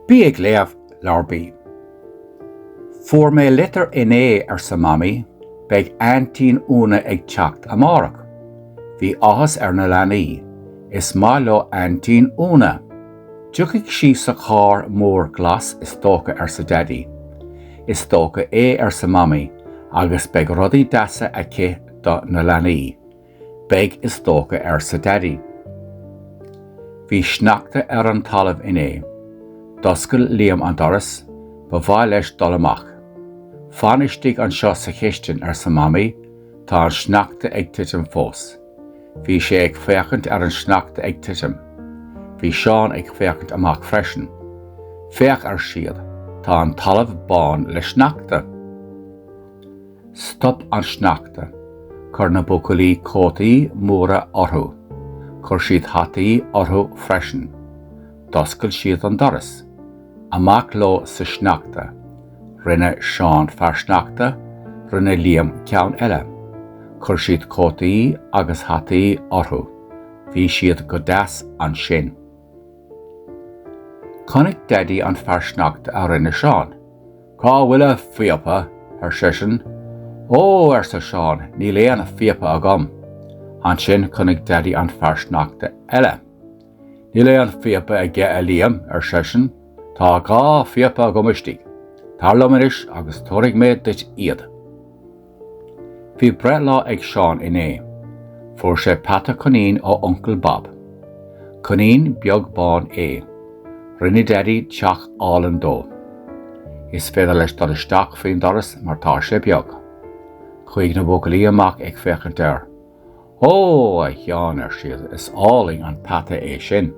Bí ag léamh, Leabhar B. Fuair mé litir inné, arsa Mamaí, beidh Aintín Úna ag teacht amárach. Bhí áthas ar na leanaí. Is maith leo Aintín Úna. Tiocfaidh sí sa charr mór glas is dócha, arsa Daidí. Is dócha é, arsa Mamaí, agus beidh rudaí deasa aici do na leanaí. Beidh is dócha arsa Daidí. Bhí sneachta ar an talamh inné. D'oscail Liam an doras, ba mhaith leis dul amach. Fan istigh anseo sa chistin arsa Mamaí, tá an sneachta ag titim fós. Bhí sé ag féachaint ar an sneachta ag titim. Bhí Seán ag féachaint amach freisin. Féach ar siad, tá an talamh bán le sneachta. Stop an sneachta. Chuir na buachaillí cótaí móra orthu. Chuir siad hataí orthu freisin. D'oscail siad an doras. Amach leo sa sneachta. Rinne Seán fear sneachta, rinne Liam ceann eile. Chuir siad cótaí agus hataí orthu. Bhí siad go deas ansin. Chonaic Daidí an fear sneachta a rinne Seán. Cá bhfuil a phíopa? ar seisean. Ó, arsa Seán, níl aon phíopa agam. Ansin chonaic Daidí an fear sneachta eile. Níl aon phíopa aige a Liam, ar seisean, Tá dhá phíopa agam istigh. Tar liom anois agus tabharfaidh mé duit iad. Bhí breithlá ag Seán inné. Fuair sé peata coinín ó Uncail Bab. Coinín beag bán é. Rinne Daidí teach álainn dó. Is féidir leis dul isteach faoin doras mar tá sé beag. Chuaigh na buachaillí amach ag féachaint air. Ó, a Sheáin, ar siad, is álainn an peata é sin.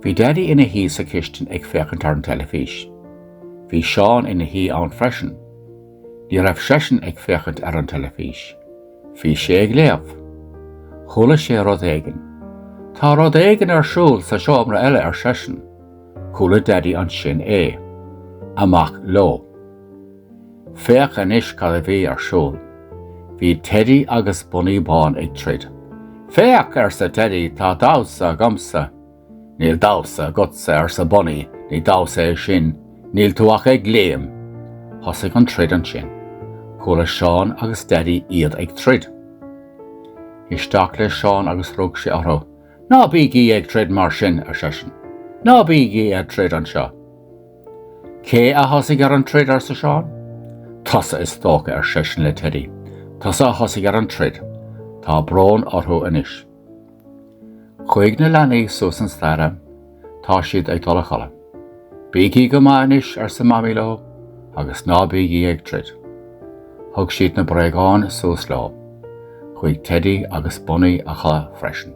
Bhí Daidí ina shuí sa chistin ag féachaint ar an teilifís. Bhí Seán ina shuí ann freisin. Ní raibh seisean ag féachaint ar an teilifís. Bhí sé ag léamh. Chuala sé rud éigin. Tá rud éigin ar siúl sa seomra eile ar seisean. Chuala Daidí ansin é. Amach leo. Féach anois cad a bhí ar siúl. Bhí Teddy agus Bunaí Bán ag troid. Féach! arsa Teddy, tá damhsa agamsa! Níl damhsa agatsa, arsa Bunaí, ní damhsa é sin, níl tú ach ag léim! Thosaigh an troid ansin. Chuala Seán agus Daidí iad ag troid. Isteach le Seán agus rug sé orthu. Ná bígí ag troid mar sin, ar seisean. Ná bígí ag troid anseo! Cé a thosaigh ar an troid? arsa Seán. Tusa, is dócha, ar seisean le Teddy. Tusa a thosaigh ar an troid. Tá brón orthu anois. Chuaigh na leanaí suas an staighre. Tá siad ag dul a chodladh. Bígí go maith anois, arsa Mamaí leo, agus ná bígí ag troid. Thug siad na bréagáin suas leo. Chuaigh Teddy agus Bunny a chodladh freisin.